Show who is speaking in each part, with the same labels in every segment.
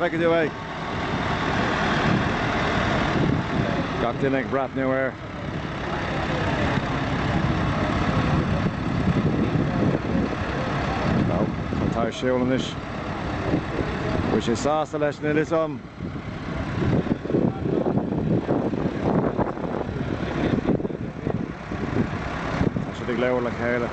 Speaker 1: Feicfidh tú é. Gach duine ag breathnú air. Nó, an fear atá ag siúl anois, an bhfuil sé sásta leis na hiasam? Tá siad ag labhairt le chéile.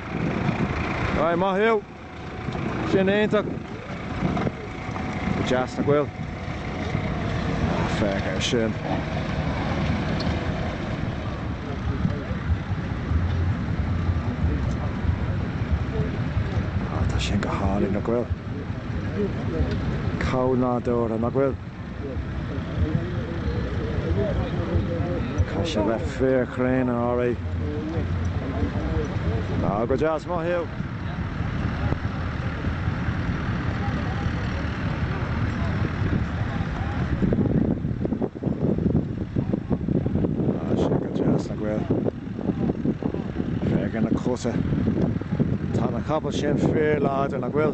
Speaker 1: Aye, maith thú! Sin iontach! Go deas, nach bhfuil? Féach air sin! Tá sin go hálainn, nach bhfuil? Chomh nádúrtha, nach bhfuil? Cosúil le fíorchrann, alright. Now, go deas, maith thú. Tá sé go deas nach bhfuil. Féach ar na cosa. Tá na capaill sin fíorláidir, nach bhfuil?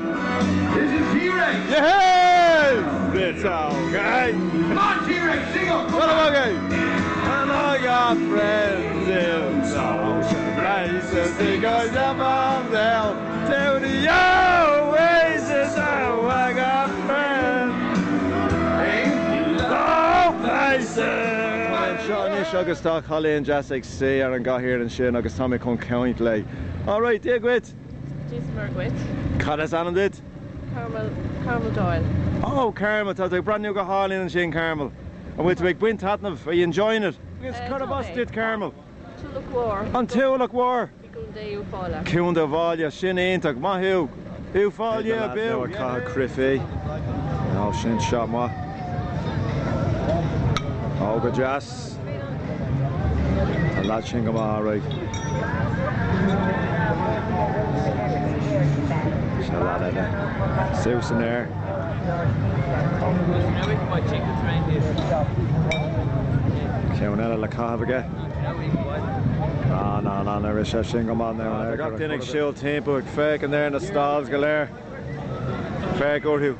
Speaker 1: Anseo anois agus tá cailín deas ag suí ar an gcathaoir ansin agus tá mé chun caint léi. Alright, Dia dhuit!
Speaker 2: Dia is Muire dhuit. Cad is ainm
Speaker 1: duit?
Speaker 2: Carmel, Carmel Doyle. Oh
Speaker 1: Carmel, tá tú ag breathnú go hálainn ansin Carmel. An bhfuil tú ag baint taitneamh? Are you enjoying it? Yes. Cárb as duit Carmel. Tulach Mhór.
Speaker 2: An Tulach Mhór?
Speaker 1: I gContae
Speaker 2: Uíbh Fhailí. Contae Uíbh Fhailí,
Speaker 1: sin iontach. Maith thú. Uíbh Fhailí, yeah, boo! Beidh na lads now ag caitheamh crúite. Now, sin shot maith. Oh, go deas. An lad sin go maith, alright. Seo lad eile. Suas san aer. Ceann eile le caitheamh aige. Now, now, now, now, rinne sé sin go maith. Tá gach duine ag siúl timpeall ag féachaint ar na stalls go léir. Féach orthu.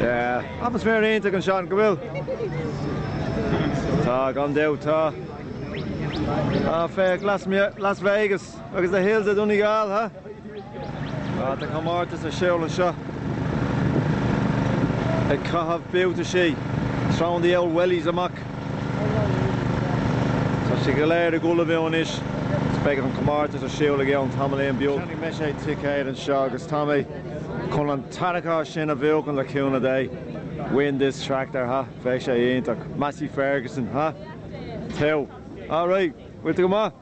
Speaker 1: Yeah. Atmaisféar iontach anseo, nach bhfuil? Tá, gan dabht, tá. Ah, féach, Las Ve, Las Vegas, agus the hills of Donegal, ha? Ah, tá comórtas ar siúl anseo. Ag caitheamh buataisí. Throwing the old wellies, a mhac. Tá sé go léir ag dul ar bun anois agus beidh an comórtas ar siúl againn tamaillín beag. Cheannaigh mise ticéad anseo agus tá mé chun an tarracóir sin a bhuachan le cúnamh Dé. Win this tractor ha! Bheadh sé iontach. Massey Ferguson, ha! Teo. Alright! Bhfuil tú go maith?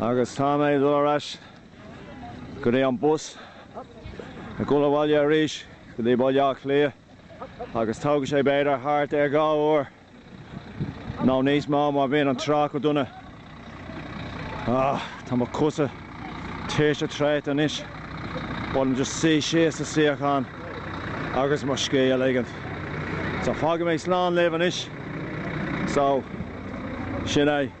Speaker 1: agus tá mé ag dul ar ais go dtí an bus ag dul abhaile arís go dtí Baile Átha Cliath agus tógfaidh sé b'fhéidir thart ar dhá uair nó níos mó má bhíonn an trácht go dona. Ahh, tá mo chosa tuirseach traochta anois, but táim just chun suí síos sa suíochán agus mo scíth a ligint. So fágfaidh mé slán libh anois, so sin é.